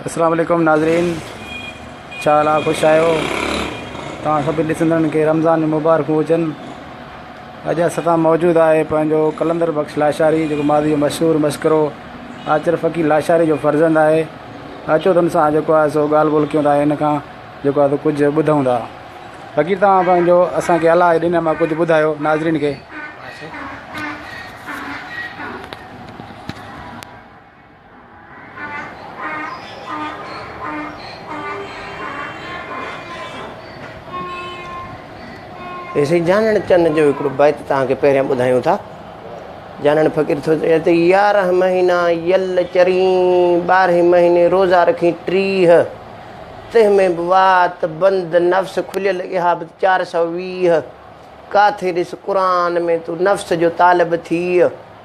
اسلام عليڪم ناظرين ڇا حال آ خوش آهيو توهان سڀني ڏسندڙن کي رمضان جون مبارڪون هجن اڄ اسان سان موجود آهي پنهنجو قلندر بخش لاشاري جيڪو ماضي جو مشهور مشڪرو آچر فقير لاشاري جو فرزند آهي اچو تن سان جيڪو آهي سو ڳالهه ٻولهه ڪيون ٿا هن کان جيڪو آهي سو ڪجهه ٻڌون ٿا فقير توهان پنهنجو اسانکي الله جي ڏني مان ڪجهه ٻڌايو ناظرين کي سائين جانڻ چن جو هڪڙو بيت تهان کي پهريان ٻڌايون ٿا جانڻ فقير ٿو چئي ته يارهن مهينا يل چرين ٻارهين مهيني روزا رکين ٽيهه تنهن ۾ به وات بند نفس کليل اها به چار سؤ ويهه ڪاٿي ڏس قرآن ۾ تون نفس جو طالب ٿيء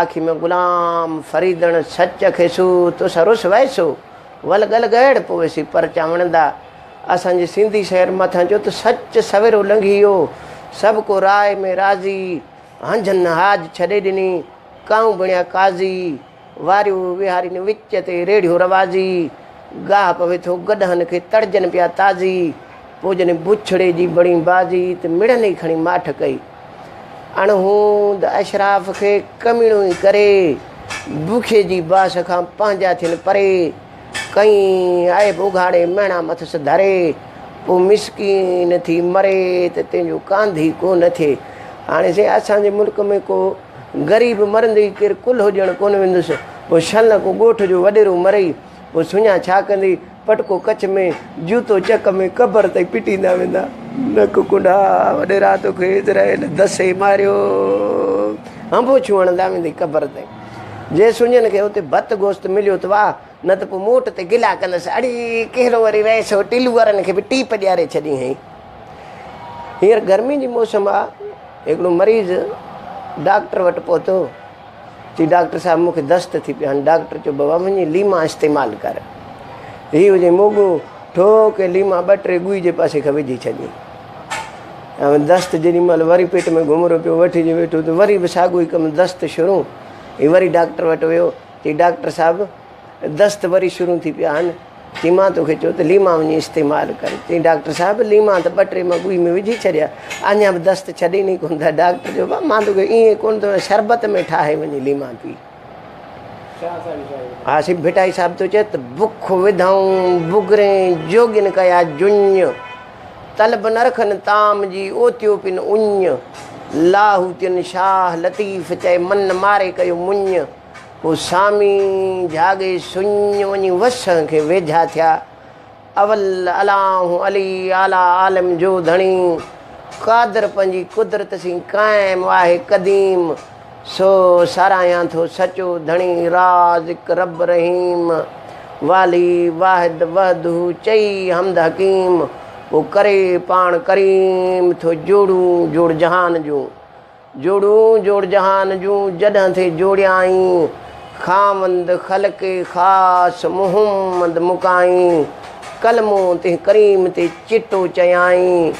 آکي م غلام فريدڻ سچ کيسو تس رس ويسو ول گل گهڙ پويسي پرچا وڻندا اسان جي سنڌي شعر مٿان جو ته سچ سويرو لنگهي ويو سڀ ڪو راء ۾ راضي هنجن هاج ڇڏي ڏني ڪائون بڻيا قاضي واريو وهارين وچ تي ريڙهيو روازي گاهه پوي ٿو گڏهن کي تڙجن پيا تازي پوڄن بڇڙي جي بڻي بازي ته مڙن ئي کڻي ماٺ ڪئي اڻهوند اشراف کي ڪميڻوئي ڪري، بکي جي باس کان پنهنجا ٿين پري، ڪئين عيب اگهاڙي مهڻا مٿس ڌري، پوء مسڪين ٿي مري ته تنهنجو ڪانڌي ڪو نه ٿئي. هاڻي سائين اسان جي ملڪ ۾ ڪو غريب مرندي ئي ڪير ڪلهو ڏيڻ ڪونه ويندس، پوء شل ڪو ڳوٺ جو وڏيرو مرئي، پوء سڃان ڇا ڪندي؟ پٽڪو ڪڇ ۾، جوتو چڪ ۾، قبر تائين پٽيندا ويندا. نڪ ڪنڊا وڏي رات کي اسرائيل دسي ماريو. هنبو ڇون هڻندا ويندي قبر تائين. جي سڃن کي اتي ڀت گوشت مليو ته واهه، نه ته پوء موٽ تي گلا ڪندس، اڙي ڪهڙو وري رئيس هو ٽلو وارن کي به ٽيپ ڏياري ڇڏين هئين. هينئر گرمي جي موسم آ، هڪڙو مريض ڊاڪٽر وٽ پهتو. چي ڊاڪٽر صاحب مون کي دست ٿي پيان. ڊاڪٽر چيو بابا وڃي ليما استعمال ڪر. هي وڃي موڳو ٺو ڪي ليما ٻه ٽي ڳوئي جي پاسي کان وجهي ڇڏي. ۽ دست جيڏي مهل وري پيٽ ۾ گهمرو پيو وٺجي ويٺو ته وري به ساڳو ئي ڪم دست شروع. هي وري ڊاڪٽر وٽ ويو. چي ڊاڪٽر صاحب دست وري شروع ٿي پيا آهن. چيائين مان توکي چيو ته ليما وڃي استعمال ڪر. چيائين ڊاڪٽر صاحب ليما ته ٻه ٽي مڳوئي ۾ وجهي ڇڏيا اڃا به دست ڇڏين ئي ڪونه ٿا. ڊاڪٽر چيو بابا مان توکي ائين ڪونه ٿو چوان شربت ۾ ٺاهي وڃي ليما پي. ها سي ڀٽائي صاحب ٿو چئي ته بک وڌائون بگرين جوڳين ڪيا جڃ طلب نه رکن طعام جي اوتيو پن اڃ لاهوتين شاهه لطيف چئي من ماري ڪيو مڃ. پوء سامي جهاڳي سڃ وڃي وسڻ کي ويجها ٿيا. اول الانه علي اعليٰ عالم جو ڌڻي قادر پنهنجي قدرت سين قائم آهي قديم سو ساراهيان ٿو سچو ڌڻي رازق رب رحيم والي واحد وحده چئي حمد حڪيم پوء ڪري پاڻ ڪريم ٿو جوڙون جوڙ جهان جون جوڙون جوڙ جهان جون جڏهن ٿي جوڙيائين خاوند خلق خاص محمد مڪائين ڪلمو تنهن ڪريم تي چٽو چيائين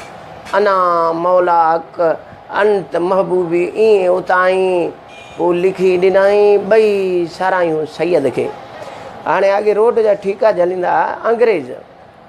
انا مولا حق انت محبوبي ايئن اتائين پوء لکي ڏنائين ٻئي سارايون سيد کي هاڻي اڳي روڊ جا ٺيڪا جهليندا هئا انگريز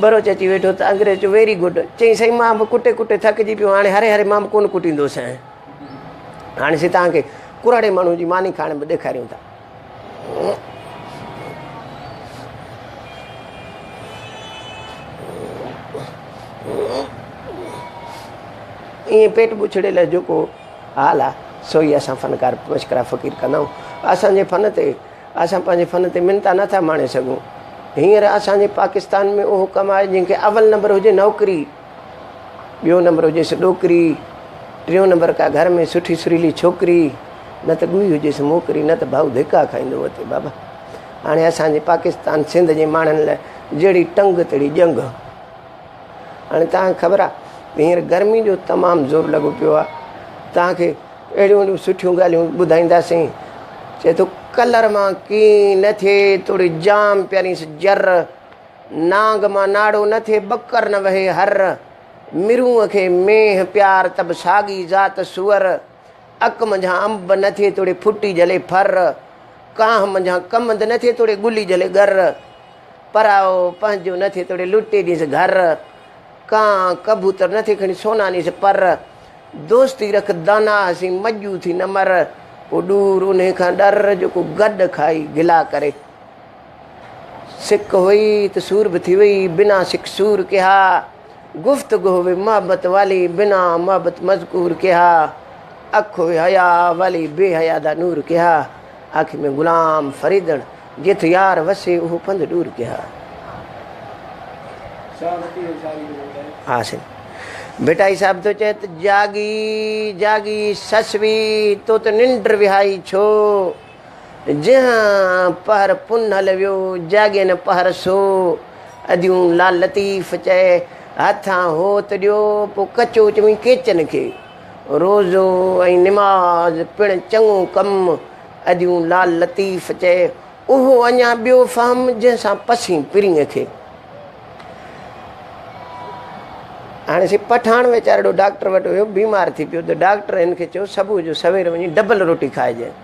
ٻروچ اچي ويٺو ته انگريز چيو ويري گڊ. چيائين سائين مان به ڪٽي ڪٽي ٿڪجي پيو هاڻي هري هري مان به ڪونه ڪٽيندو سائين. هاڻي سي توهان کي ڪرهاڙي ماڻهو جي ماني کائڻ به ڏيکاريون ٿا. ائين پيٽ بڇڙي لاء جيڪو حال آهي سو ئي اسان فنڪار مشڪرا فقير ڪندا آهيون. اسان جي فن تي اسان پنهنجي فن تي منتا نه ٿا ماڻي سگهون. هينئر اسان جي پاڪستان ۾ اهو ڪم آهي جنهن کي اول نمبر هجي نوڪري، ٻيو نمبر هجيس ڏوڪري، ٽيون نمبر ڪا گهر ۾ سٺي سريلي ڇوڪري، نه ته ڳوئي هجيس موڪري، نه ته ڀائو ڌڪا کائيندو وتي بابا. هاڻي اسان جي پاڪستان سنڌ جي ماڻهن لاء جهڙي ٽنگ تهڙي ڄنگهه. هاڻي توهان کي خبر آهي هينئر گرمي جو تمام زور لڳو پيو آهي توهان کي اهڙيون اهڙيون سٺيون ڳالهيون ٻڌائينداسين چئي ٿو ڪلر مان ڪين نه ٿئي توڙي جام پيارينس جر نانگ مان ناڙو نه ٿئي ٻڪر نه وهي هر مرونء کي مينهن پيار تب ساڳي ذات سوئر اڪ منجهان انب نه ٿئي توڙي ڦٽي جهلي ڦر، ڪانه منجهان ڪمند نه ٿئي توڙي ڳلي جهلي ڳر، پرائو پنهنجو نه ٿئي توڙي لٽي ڏينس گهر، ڪانه ڪبوتر نه ٿئي کڻي سونا نيس پر، دوستي رک دانا هسين مڄو ٿي نه مر، پوء ڏور انهي کان ڏر جو ڪو گڏ کائي گلا ڪري. سڪ هئي ته سور به ٿي وئي، بنا سڪ سور ڪيها. گفتگو وي محبت والي بنا محبت مذڪور ڪيها اک وي حياء والي بي حياء دا نور ڪيها آکي ۾ غلام فريدڻ جيٿ يار وسي اهو پنڌ ڏور ڪيها ها سائين ڀٽائي صاحب ٿو چئي ته جاڳي جاڳي سسوي تو ته ننڊ وهائي ڇو جنهن پهر پنهل ويو، جاڳي نه پهر سو. اديون لال لطيف چئي، هٿان هوت ڏيو، پوء ڪچو چوين ڪيچن کي. روزو ۽ نماز پڻ چڱو ڪم. اديون لال لطيف چئي، اهو اڃا ٻيو فهم، جنهن سان پسين پرينء کي. هاڻي سي پٺاڻ ويچارڙو ڊاڪٽر وٽ ويو، بيمار ٿي پيو ته ڊاڪٽر هن کي چيو صبح جو سوير وڃي ڊبل روٽي کائجانء.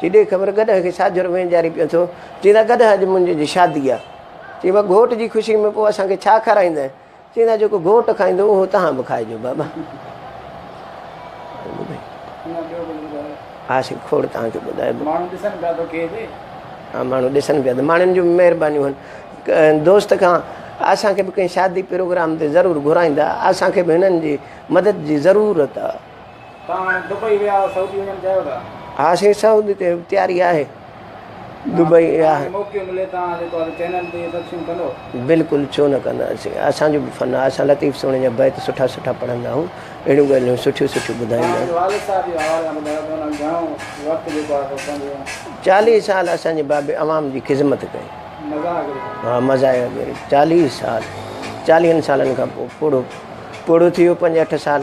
چي ڏي خبر گڏهه کي ڇا جرم ۽ جاري پيو ٿو. چئي ٿا گڏهه اڄ منهنجي جي شادي آ. چئي مان گهوٽ جي خوشي ۾ پوء اسان کي ڇا کارائينده. چئي ٿا جيڪو گهوٽ کائيندو اهو تهان به کائجو بابا. ها سائين کوڙ تهان کي ٻڌايو. ماڻهو ڏسن پيا تو کي به. ها ماڻهو ڏسن پيا ته ماڻهن جون مهربانيون هن دوست کان اسان کي به ڪنهن شادي پروگرام تي ضرور گهرائيندا اسان کي به هنن جي مدد جي ضرورت آ. ها سي سعودي تي تياري آهي دبئي بلڪل ڇو نه ڪنداسين اسان جو به فن آهي اسان لطيف سهڻي جا بيت سٺا سٺا پڙهندا آهيون اهڙيون ڳالهيون سٺيون سٺيون ٻڌائيندا آهن چاليهه سال اسان جي بابي عوام جي خدمت ڪئي ها مزايا چاليهه سال چاليهن سالن کان پوء پوڙهو پوڙهو ٿي ويو پنج اٺ سال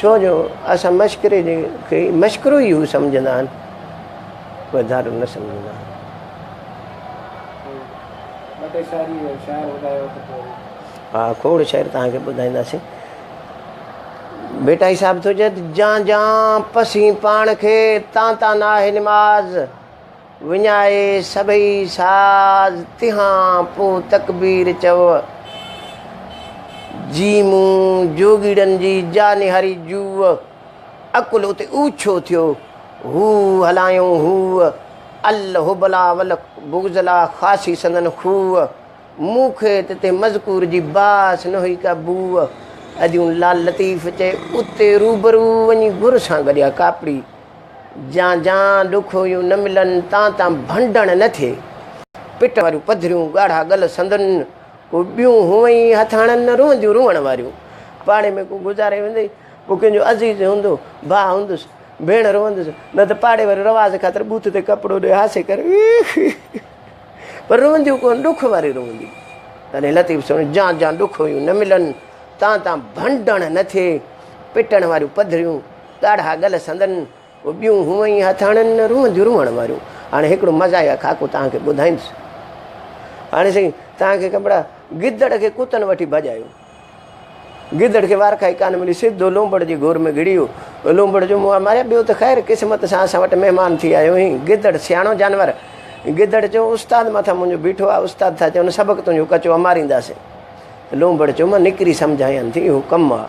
ڇو جو اسان مشڪري کي مشڪرو ئي سمجهندا آهن وڌارو نه سمجهندا آهن. ها کوڙ شعر توهان کي ٻڌائينداسين. ڀٽائي صاحب ٿو چئي ته جان جان پسين پاڻ کي تان تان ناهي نماز. وڃائي سڀئي ساز تنهان پوء تڪبير چئو. جي مون جوڳيڙن جي جانهري جوء عقل اتي اوڇو ٿيو. هو هلايون هوء الهبلا والبغزلا خاصي سندن خوء. مون کي ته تنهن مذڪور جي باس نه هئي ڪا بوء. اديون لال لطيف چئي اتي روبرو وڃي گهر سان گڏيا ڪاپڙي. جان جان ڏک هيون نه ملن، تان تان ڀنڊڻ نه ٿئي. پٽ واريون پڌريون، ڳاڙها ڳل سندن، ڪو ٻيون هونئن ئي هٿاڻن نه روئنديون روئڻ واريون. پاڙي ۾ ڪو گذاري ويندي، ڪو ڪنهن جو عزيز هوندو، ڀاء هوندس، ڀيڻ روئندس، نه ته پاڙي واريون رواز خاطر بوٿ تي ڪپڙو ڏئي هاسي ڪري پر روئنديون ڪونه، ڏک واريون روئنديون. تڏهن لطيف سڻيو، جان جان ڏک هيون نه ملن، تان تان ڀنڊڻ نه ٿئي. پٽڻ واريون پڌريون. ڳاڙها ڳل سندن ٻيون هونء ئي هٿاڻن نه روئنديون روئڻ واريون. هاڻي هڪڙو مزاحيه خاڪو توهان کي ٻڌائيندس. هاڻي سائين توهان کي خبر آهي گدڙ کي ڪتن وٺي ڀڄايو. گدڙ کي وارکائي ڪانه ملي سڌو لونبڙ جي گور ۾ گهڙي ويو. لونبڙ جو منهن ماريا ٻيو ته خير قسمت سان اسان وٽ مهمان ٿي آيو آهين. گدڙ سياڻو جانور. گدڙ چيو استاد مٿان منهنجو بيٺو آهي استاد ٿا چون سبق تنهنجو ڪچو امارينداسين. لونبڙ چيو مان نڪري سمجهايان ٿي اهو ڪم آهي.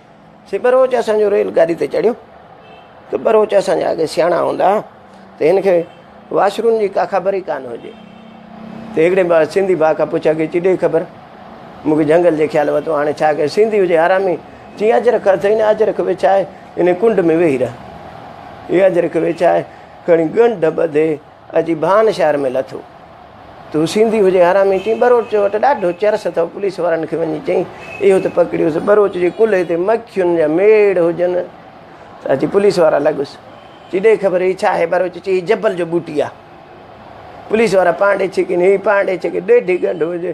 سي ٻروچ اسان جو ريل گاڏي تي چڙهيو ته ٻروچ اسان جا اڳي سياڻا هوندا ته هن کي واشرون جي ڪا خبر ئي ڪانه هجي ته هڪڙي بار سنڌي ڀاء کان پڇا کي چي ڏي خبر مون کي جهنگل جي خيال وتو هاڻي ڇا ڪي سنڌي هجي حرامي چي اجرڪ اٿئي نه اجرڪ وڇائي ان ڪنڊ ۾ ويهي رهه اي اجرڪ ويڇائي کڻي ڳنڍ ٻڌي اچي ڀان شهر ۾ لٿو. تون سنڌي هجين حرامي چين ٻروچ وٽ ڏاڍو چرس اٿئو پوليس وارن کي وڃي چئين اهو ته پڪڙيوس ٻروچ جي ڪلهي تي مکين جا ميڙ هجن ته اچي پوليس وارا لڳس چي ڏي خبر هي ڇا آهي ٻروچ چي هي جبل جو ٻوٽي آهي پوليس وارا پانڊي ڇڪين هي پانڊي ڇڪين ڏيڍي ڳنڍ هجي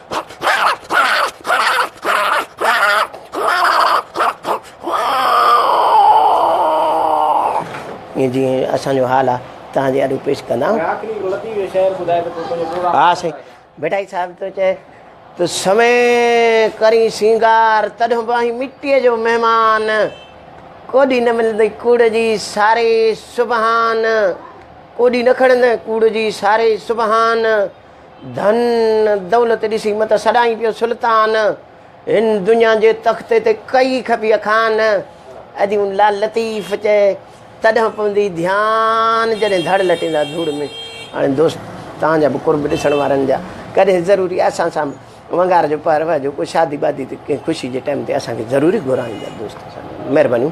ائين جيئن اسان جو حال آهي تنهن جي اڏو پيش ڪندا ها سائين بيٺائي صاحب تو چئي تو سمي ڪري سينگار تڏهن به آهي مٽيء جو مهمان کوڏي نه ملندي کوڙ جي ساري سبحان کوڏي نه کڻندي کوڙ جي ساري سبحان ڌن دولت ڏسي مت سڏائين پيو سلطان هن دنيا جي تخت تي ڪئي کپي اخان ادي ان لال لطيف چئي تڏهن پوندي ڌيان جڏهن ڌڙ لٽيندا ڌوڙ ۾ هاڻي دوست تان جا به قرب ڏسڻ وارن جا ڪڏهن ضروري اسان سان ونگار جو پهر وهجو ڪو شادي بادي تي ڪنهن خوشي جي ٽائيم تي اسان کي ضروري گهرائيندا دوست مهربانيون